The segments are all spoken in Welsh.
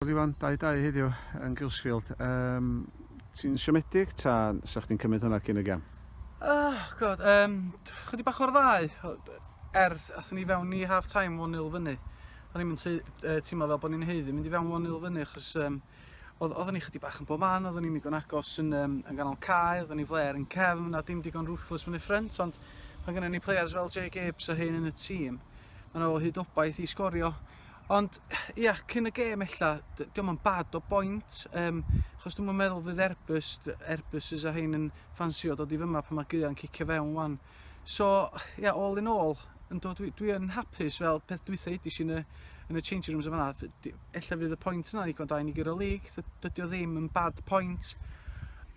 Wel Iwan, da i da i heddiw yn Gilsfield. Um, ti'n siomedig ta sa chdi'n cymryd hwnna cyn y gem? Oh, god, um, chydig bach o'r ddau. Er, athyn ni fewn i half time 1-0 fyny. O'n i'n teimlo fel bod ni'n heiddi mynd i fewn 1-0 fyny, achos um, oeddwn ni chydig bach yn bob man, oeddwn ni'n digon agos yn, um, yn ganol cael, oeddwn ni flair yn cefn, na dim digon ruthless fyny ffrant, ond mae gennym ni players fel Jay Gibbs a hyn yn y tîm, mae'n ôl hyd obaith i sgorio. Ond ia cyn y gêm ella d- dio'm yn bad o boint yym achos dwi'm yn meddwl fydd Airbus d- Airbuses a rhein yn ffansio dod i fyma pan ma' gaea'n cicio fewn 'wan. So ia all in all yndw dwi dwi yn hapus fel peth dwytha edes i yn y yn y changing rooms yn fan 'na d- d- ella fydd y point yna'n ddigon da i ni guro lig dy- dydi o ddim yn bad point.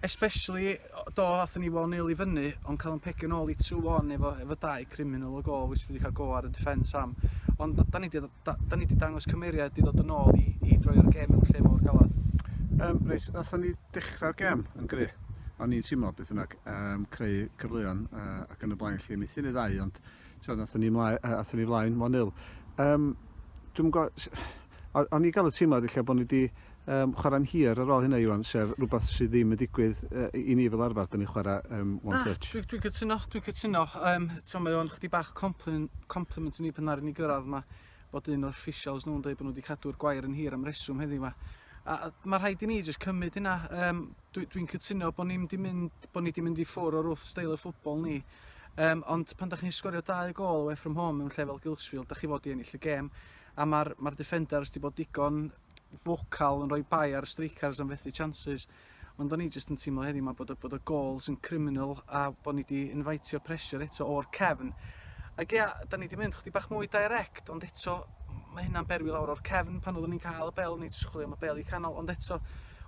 Especially o- do athon ni one nil i fyny ond ca'l 'yn pegio nôl i two one efo efo dau criminal o gôl which dwi 'di ca'l go ar y defence am ond d- 'dan ni 'di dd- da- 'dan ni 'di dangos cymeriad i ddod yn ôl i i droi'r gêm mewn lle mor galad. Yym reit nathon ni dechra'r gêm yn gry'. O'n i'n teimlo beth bynnag yym creu cyfleon a ac yn y blaen 'lly methu neud ddau ond t'mod nathon ni mlae- yy athon ni flaen one nil. Yym dwi'm yn g'o' s- O- o'n i'n cael y teimlad ella bod ni wedi um, chwarae'n hir ar ôl hynna, Iwan, sef rhywbeth sydd ddim yn digwydd uh, i ni fel arfer, dyn ni chwarae um, one Na, touch. Dwi'n dwi cytuno, dwi'n cytuno. Um, Ti'n mae o'n chdi bach compliment, compliment i ni pan ar i ni gyrraedd yma bod un o'r officials nhw'n dweud bod nhw wedi cadw'r gwair yn hir am reswm heddiw yma. A, a mae rhaid i ni jyst cymryd hynna. Um, Dwi'n dwi cytuno bod ni'n di mynd, bod ni wedi mynd i ffwr o'r wrth steil y ffwbol ni. Um, ond pan da chi'n sgorio dau gol away from home mewn lle fel Gilsfield, da chi fod i ennill y gêm. a ma'r ma'r defenders 'di bod digon focal yn rhoi bai ar y strikers am fethu chances ond o'n i jyst yn teimlo heddiw 'ma bod y bod y gol sy'n criminal a bod ni 'di inviteio pressure eto o'r cefn. Ac ia, 'dan ni 'di mynd chdi bach mwy direct ond eto mae hynna'n berwi lawr o'r cefn pan oeddwn ni'n cael y bel o'n i jyst chwilio am y bel i canol ond eto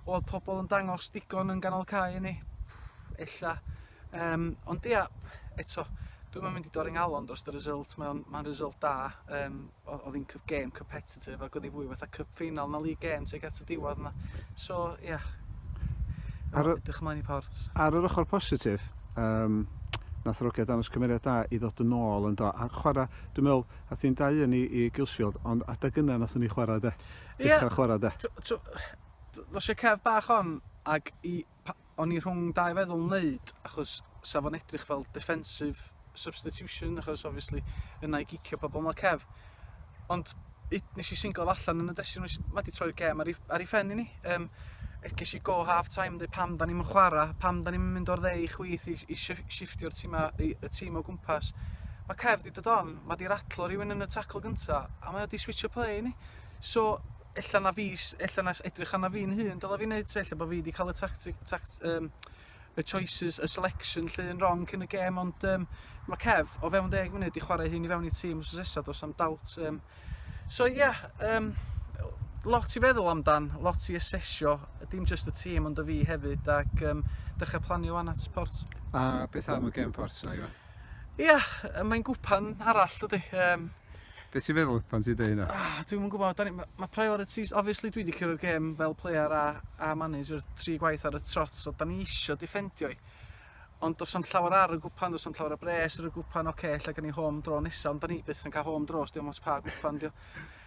oedd pobl yn dangos digon yn ganol cae i ni. Ella Yym ond ia eto dwi'm yn mynd i dorri ngalon drost y result mae o'n ma'n result da yym o- odd 'i'n cyf- gêm competitive ag odd 'i fwy fatha cup final na league game tuag at y diwadd yna so ia. Ar y... Edrych ymlaen i Port. Ar yr ochr positif yym nath yr ogia dangos cymeriad da i ddod yn ôl yndo a chwara' dwi'n meddwl ath hi'n 2-1 i i Gilsfield ond adeg yna nathon ni chwara' de? Ia. Dechra chwara' de? T- t'o' ddoth y cef bach on ag i Pa, o'n i rhwng dau feddwl wneud, achos sa fo'n edrych fel defensive substitution, achos obviously yna i gicio pobl yn y cef. Ond it, nes i singl allan yn y dressing room, mae wedi troi'r gem ar ei, ar ei ffen i ni. Um, ges i go half time yn dweud pam da ni'n chwarae, pam da ni'n mynd o'r dde i chwyth i, i shiftio'r tîm, y tîm o gwmpas. Mae cef wedi dod on, mae wedi ratlo rhywun yn y tacl gyntaf, a mae wedi switch y play i ni. So, ella na fi ella na edrych arna fi'n hun dyle fi neud 'to ella bo' fi 'di ca'l y tactic tact yym y choices y selection 'lly yn rong cyn y gêm ond yym ma' Kev o fewn deg munud 'di chware hyn i fewn i tîm wsos nesa do's am dawt yym so ia yeah, yym lot i feddwl amdan lot i asesio dim jyst y tîm ond y fi hefyd ac yym dechra planio wan at Port. A beth am y gêm Port 'na Iwan? Ia, mae'n gwpan arall dydy. Um, Be ti'n feddwl pan ti'n dweud hynna? Ah, dwi'n yn gwybod, ni, mae priorities, obviously dwi wedi cyrra'r gêm fel player a, a manager tri gwaith ar y trot, so da ni eisiau defendio i. Ond dos am llawer ar y gwpan, dos am llawer ar bres ar y gwpan, oce, okay, lle gan ni home draw nesaf, ond da ni byth yn cael home draw, os diolch pa gwpan, diolch.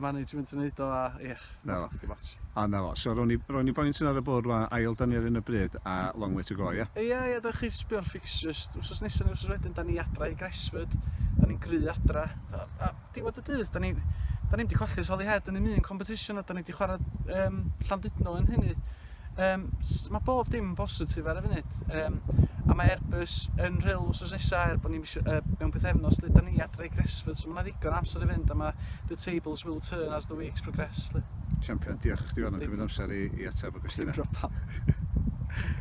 management yn neud o a ie, na fo, dim ots. A na fo. So ro'n i, ro'n i boint yn ar y bwrdd rwan, ail dan ni ar un o bryd a long way to go ie? Ie ie, da chi sbio ar fixtures wsos nesa ne wsos wedyn dan ni adra i Gresford, dan ni'n gry adra. T'o' a diwedd y dydd dan ni dan ni'm di colli ers Holyhead yn ddim un competition a dan ni di chwara yym Llandudno yn hynny. Yym s- ma' bob dim yn bositif ar y funud yym a mae Airbus yn rhyl wsos nesa er bo' ni mis- yy mewn pythefnos lle 'dan ni adre i Gresfydd so ma' 'na ddigon o amser i fynd a ma' the tables will turn as the weeks progress 'lly. Champion, diolch i chdi am cymyd amser i i atab y cwestiyna. Dim problem.